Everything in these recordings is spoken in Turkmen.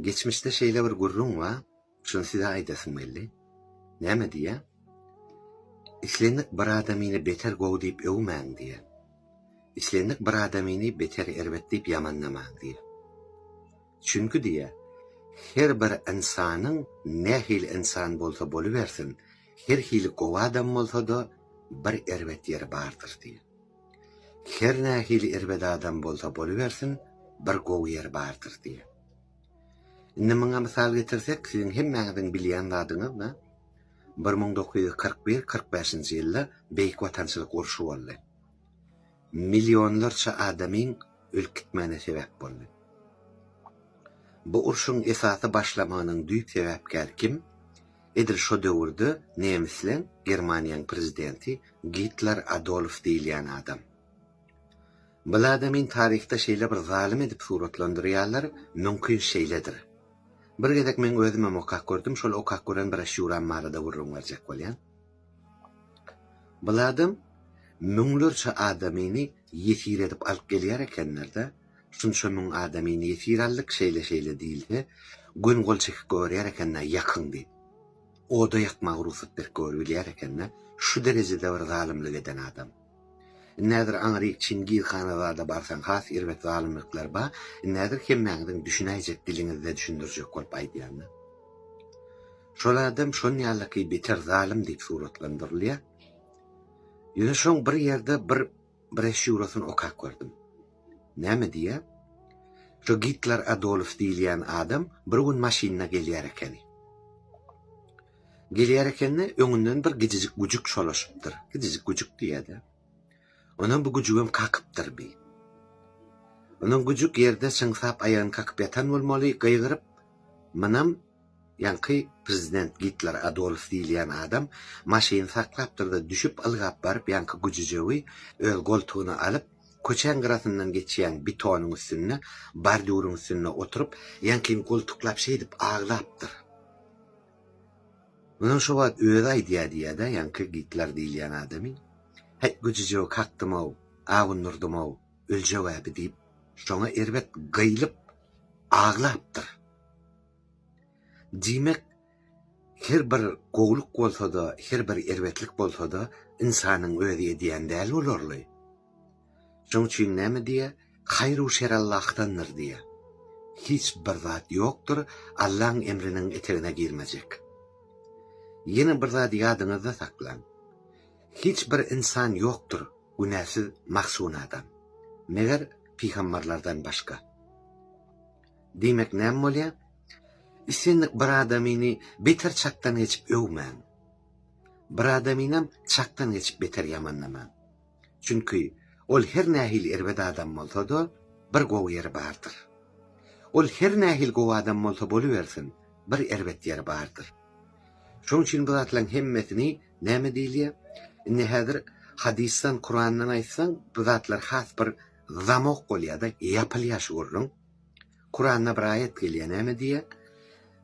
Geçmişde şeýle bir gürrüň bar, şuny size aýdasym geldi. Näme diýýär? Islendik bir adamyny beter gowy diýip öwmäň diýýär. Islendik bir adamyny beter erbet diýip ýamanlamaň diýýär. Çünki diýýär, her bir ynsanyň nähili ynsan bolsa bolubersin, her hili gowy adam bolsa-da, bir erbet ýeri bardyr diýýär. Her nähili erbet adam bolsa bolubersin, bir gowy ýeri bardyr diýýär. Indi muňa mysal getirsek, siziň hemmäňiziň bilýän zadyňyz da, bir müň dokuz ýüz kyrk bir, kyrk bäşinji ýylda Beýik Watançylyk urşy boldy. Millionlarça adamyň ölüp gitmegine sebäp boldy. Bu urşuň esasy başlamagynyň düýp sebäpkäri kim? Edil şo döwürde nemisleň, Germaniýanyň prezidenti Gitler Adolf diýilýän adam. Bil adamyn taryhda şeýle bir zalym edip suratlandyrýarlar, mümkin şeýledir. Bir gezek meň özümem okap gördüm, şol okap gören broşýuram barada gürrüň berjek bolýan. Bil adam müňlerçe adamyny ýesir edip alyp gelýär ekenlerde, şunça müň adamyny ýesir aldyk, şeýle şeýle diýilse, göni gol çekip goýberýär ekende ýakyň diýip. Oda ýakmaga rugsat berip goýberip bilýär ekende, şu derejede bir zalymlyk eden adam. Indi häzir aňryk Çingiz hana zada barsaň has erbet zalymlyklar ba, indi häzir hemmäňiziň düşünäýjek diliňizde düşündirjek bolup aýdýanda. Şol adam şon ýalyky beter zalym diýip suratlandyrylýar. Ýöne şoň bir ýerde bir broşýurasyny okap gördüm. Näme diýýär? Şo Gitler Adolf diýilýän adam bir gün maşynda gelýär ekeni. Gelýär eken-de, öňünden bir gijijik güjük şolaşypdyr. Gijijik güjük diýýä-dä. Onam bu güjügem kakypdyr bi. Onam güjük ýerde çyňsap aýagyny kakyp ýatan bolmaly, gygyryp, Mynam, ýaňky prezident Gitler Adolf diýilýän adam maşyny saklapdyr-da, düşüp, ylgap baryp, ýaňky güjüjegi öz goltugyna alyp, köçäň gyrasyndan geçýän bitonyň üstünde, bordýuryň üstünde oturyp, ýaňkyny goltuklap şeýdip aglapdyr. Munuň şo wagt özi aýdýa diýýä-dä, ýaňky Gitler diýilýän adamy. Häý, güjüjegi kakdym-ow, awundyrdymow, öljeg-ä-bi diýip, şoňa erbet gyýlyp aglapdyr. Diýmek, her bir gowluk bolsa-da, her bir erbetlik bolsa-da, ynsanyň özi edýän däl olarly. Şoň üçin näme diýýär? Haýr-u şer Allahdandyr diýýär. Hiç bir zat ýokdur Allaň emriniň etegine girmejek. Ýene bir zady ýadyňyzda saklaň. Hiç bir ynsan ýokdur günäsiz mahsun adam. Meger pygambarlardan başga. Diýmek näme bolýar? Islendik bir adamyny beter çakdan geçip öwmäň. Bir adamynam çakdan geçip beter ýamanlamaň. Çünki ol her nähili erbet adam bolsa-da, bir gowy ýeri bardyr. Ol her nähili gowy adam bolsa bolubersin, bir erbet ýeri bardyr. Şonuň üçin bu zatlaryň hemmesini näme diýilýär? Indi häzir hadysdan, Kurandan aýtsaň, bu zatlar has bir zamok bolýar-da, ýapylýar şu gürrüň. Kuranda bir aýat gelýär näme diýýär,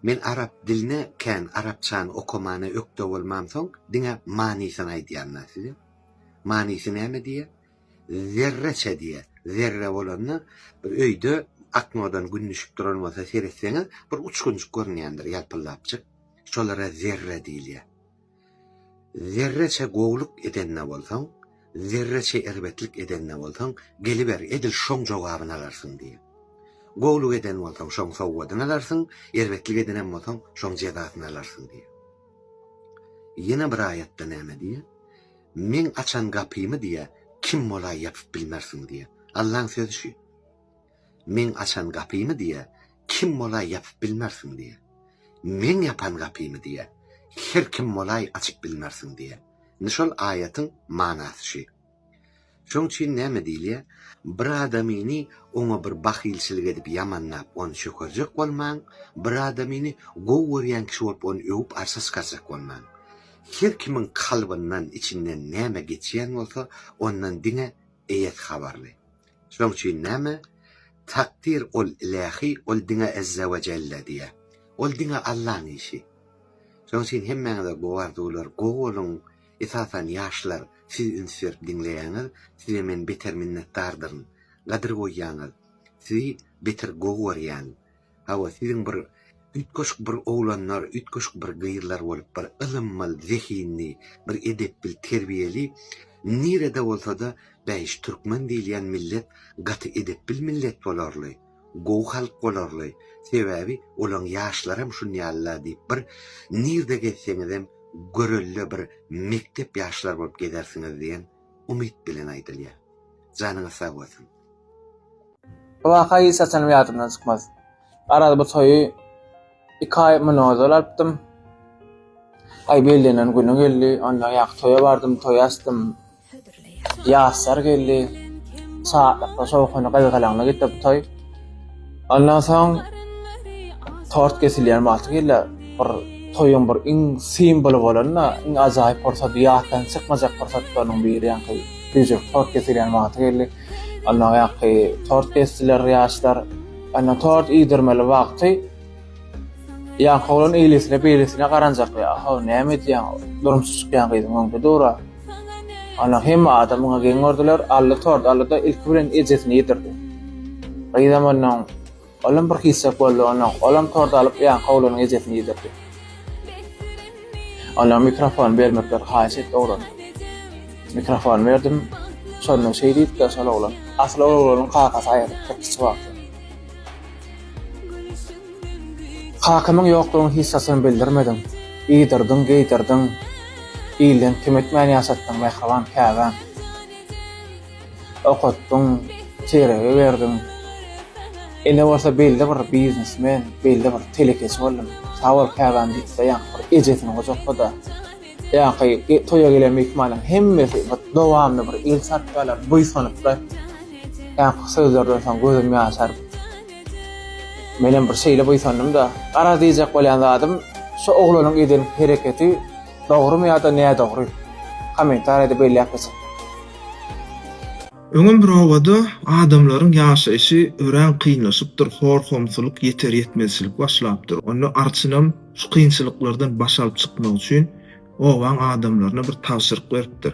Men arap diline kän arapçany okamana ökde bolmamsoň diňe manysyny aýdýarynda size. Manysy näme diýýär? Zerreçe diýýär. Zerre bolanda bir öýde ak nurdan gün düşüp duran bolsa seretseňiz bir uçgunjyk görünýändir ýalpyldapjyk. Şolara zerre diýilýär. Zerreçe gowluk edende bolsaň, zerreçe erbetlik edende bolsaň, geliber, edil şoň jogabyny alarsyň diýýär. Gowluk eden bolsaň, şoň sowgadyny alarsyň, erbetlik edenem bolsaň, şoň jezasyny alarsyň diýýär. Ýene bir aýatda näme diýýär? Meň açan gapymy diýýär, kim bolaý ýapyp bilmersiň diýýär. Allaň sözi şu. Meň açan gapymy diýe, kim bolaý ýapyp bilmersiň diýe. Meň ýapan gapymy diýe, her kim bolaý açyp bilmersiň diýe. Indi şol aýatyň manasy şü. Şoň üçin näme diýilýä, bir adamyny oňa bir bahylçylyk edip ýamanlap ony çökerjek bolmaň, bir adamyny gowy görýän kişi bolup ony öwüp arşa çykarjak bolmaň. Her kimiň kalbyndan, içinden näme geçýän bolsa ondan diňe eýesi habarly. Şonuň üçin näme? Takdyr ol ilähi, ol diňe Azza we Jelle diýä. Ol diňe Allaň işi. Şonuň üçin hemmäňize gowy arzuwlar, gowy boluň, esasan ýaşlar, siz üns berip diňleýäňiz, size men beter minnetdardyryn, gadyr goýýaňyz, sizi beter gowy görýän, Hawa, siziň bir üýtgeşik bir oglanlar, üýtgeşik bir gyzlar bolup, bir ylymmal, zehinli, bir edepbil, terbiýeli, nirede bolsa-da, bäş, türkmen diýilýän millet gaty edepbil millet bolarly, gowy halk bolarly, sebäbi olaň ýaşlaram şunýaly-la diýip, bir nirede gezseňizem, görelde bir mekdep ýaşlar bolup gezersiňiz diýen umyt bilen aýdylýar. Janyňyz sag bolsun! Bu waka hiç haçanam ýadymdan çykmaz. Garaz bu toýy iki aý mundan ozal alypdym. Aý bellenen güni geldi, onda ýa toýa bardym, toýa açdym. Ýaşlar geldi. Şatlykly, şowhunly, gyzgalaňly gitdi bu toý. Andan soň tort kesilýän wagty gelýär. Bir toýuň bir iň simwoly bolan-da, iň ajaýyp pursady, ýatdan çykmajak pursatlarynyň biri ýaňky düýjek tort kesilýän wagty geldi. Ondan ýaňky tort kesdiler ýaşlar. Ondan tort iýdirmeli wagty ýaňky oglan eýlesine-beýlesine garanjak, Ýa-ha, näme edýäň? Durmuşy çykýan gyzyň öňde dura. Ana, hemme adam muňa geň gördüler. Ally tort aldy-da, ilki bilen ejesine ýetirdi. Gyzam ondan, olam bir hiçjak boldy, ondan, olam tort alyp, ýaňky oglanyň ejesine ýetirdi. Oňa mikrofon bermekleri haýyş etdi oglan. Mikrofon berdim. Şonda şeý diýipdir şol oglan, Asyl ol oglanyň kakasy aýalypdyr kiçi wagty. Kakymyň ýoklugyny hiç haçan bildirmediň, Iýdirdiň, geýdirdiň, ilden kem etmän ýaşatdyň, mähriban käbäm. Okatdyň, çeýregi berdiň. Ine bolsa belli bir biznesmen, belli bir telekeçi boldum. Sag bol käbäm diýip-de ýaňky bir ejesini gujaklady. Ýa-ha toýa gelen myhmanyň hemmesi bir dowamly bir el çarpýarlar, buýsanyplar. Ýa-ha sözlerden soň gözüm ýaşaryp. Menem bir şeýle buýsandym-da. Garaz diýjek bolýan zadym, şu oglanyň eden hereketi dogrumy ýa-da nädogry? Kommentariýada belläp geçiň. Öňem bir obada adamlaryň ýaşaýşy örän kynlaşypdyr, hor-homsulyk, ýeter-ýetmezçilik başlapdyr. Onda arçynam. Şu kynçylyklardan baş alyp çykmak üçin obaň adamlaryna bir tabşyryk beripdir.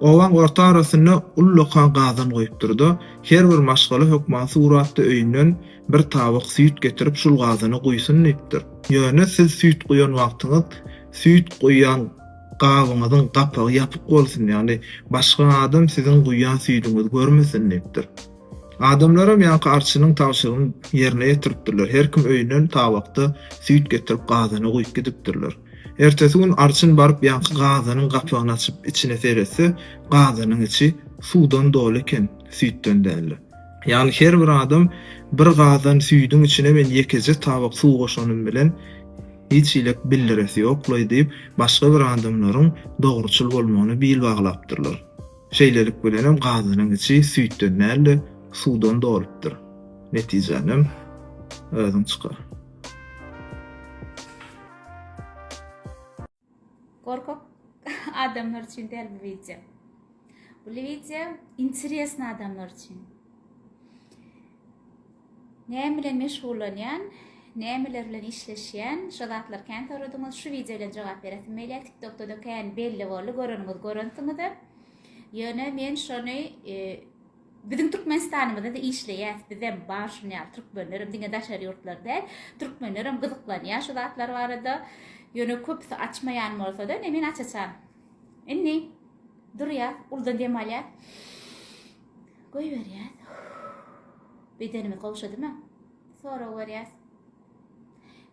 Obaň orta arasynda ullakan gazan goýupdyr-da, her bir maşgala hökman suratda öýünden bir tabak süýt getirip şul gazana guýsun diýipdir. Ýöne siz süýt guýan wagtyňyz süýt guýan gabyňyzyň gapagy ýapyk bolsun, ýagny başga adam siziň guýan süýdüňizi görmesin diýipdir. Adamlaram ýaňky arçynyň tabşyrygyny ýerine ýetiripdirler, her kim öýünden tabakda süýt getirip gazana guýup gidipdirler. Ertesi gün arçyn baryp ýaňky gazanyň gapagyny açyp içine seretse, gazanyň içi suwdan doly eken, süýtden däldi. Ýagny her bir adam bir gazan süýdüň içine men ýekeje tabak suw goşanym bilen hiç ilek bildiresi ýoklaý diýip, başga bir adamlaryň dogruçyl bolmagyna bil baglapdyrlar. Şeýlelik bilenem gazynyň içi süýtden däl-de, suwdan dolupdyr. Netijänem özüň çykar. Gorkak adamlar üçin däl bu wideo. Bu wideo interesny adamlar üçin. Näme bilen meşgullanýan, nämeler bilen işleşýän, şo zatlar kän soradyňyz, şu wideo bilen jogap beresim gelýär, tiktokda-da kän belli boldy, göreniňiz görensiňizdir. Ýöne men şony Biziň Türkmenistanymyzda-da işleýäs, bizem bar şun ýaly türkmenlerem, diňe daşary ýurtlar däl, türkmenlerem gyzyklanýar şu zatlar barada. Ýöne köpüsi açmaýan bolsa-da, ine men açaçan. Indi durýas, uludan dem alýas. Goýberýäs. Bedenimi gowşadyma. Sorag berýäs.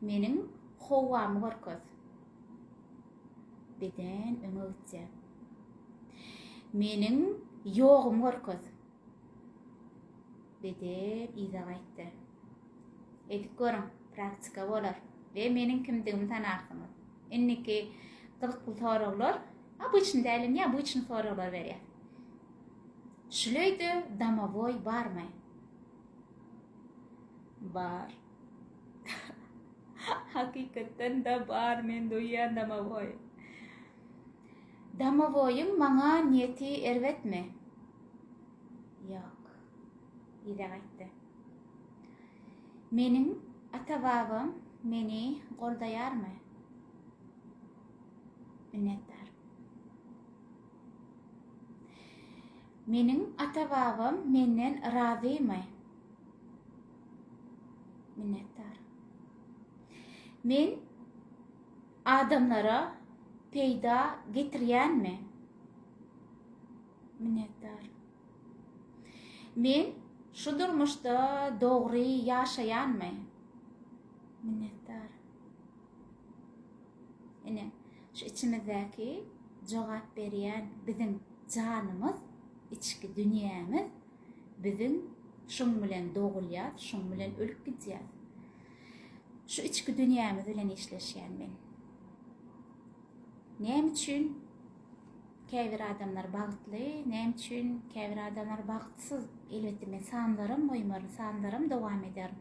Meniň howamy görkez. Beden öňe gitýär. Meniň ýogumy görkez. Beden yza gaýtdy. Edip görüň, praktika bolar we meniň kimdigimi tanarsyňyz. Indiki gyzykly soraglar, a bu üçin däl, ýa bu üçin soraglar berýär. Şul öýde domowoý barmy? Bar. Hakykatdan-da bar, men duýýan domowoý. Domowoýyň maňa niýeti erbetmi? Ýok. Yza gaýtdy. Meniň ata-babam meni goldaýarmy? Minnetdar. Meniň ata-babam menden razymy? Minnetdar. Men adamlara peýda getirýänmi? Minnetdar. Men şu durmuşda dogry ýaşaýanmy? Minnetdar. Ine, şu içimizdäki jogap berýän biziň janymyz, içki dünýämiz. Biziň şuň bilen dogulýas, şuň bilen ölüp gidýäs. Şu içki dünýämiz bilen işleşýän men. Näme üçin käbir adamlar bagtly, näme üçin käbir adamlar bagtsyz? Elbetde men sanlaram goýmaryn, sanlaram dowam ederin.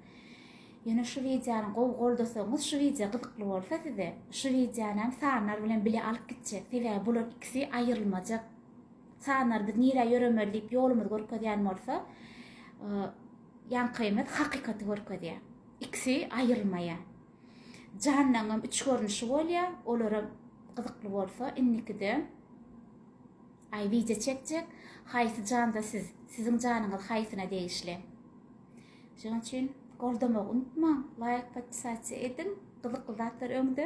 Ýöne şu wideony gowy goldasaňyz şu wideo gyzykly bolsa size şu wideonam sanlar bilen bile alyp gitjek sebäbi bular ikisi aýrylmajak sanlar biz nirä ýöremeli diýip ýolumyzy görkezýän bolsa ýaňkymyz hakykaty görkezýä ikisi aýrylmaýa janlaňam üç görnüşi bolýa olaram gyzykly bolsa indikide aý wideo çekjek haýsy janda siz siziň janyňyz haýsyna degişli. Şonuň üçin goldamagy unutmaň, laýk, podpisasiýa ediň, gyzykly zatlar öňde.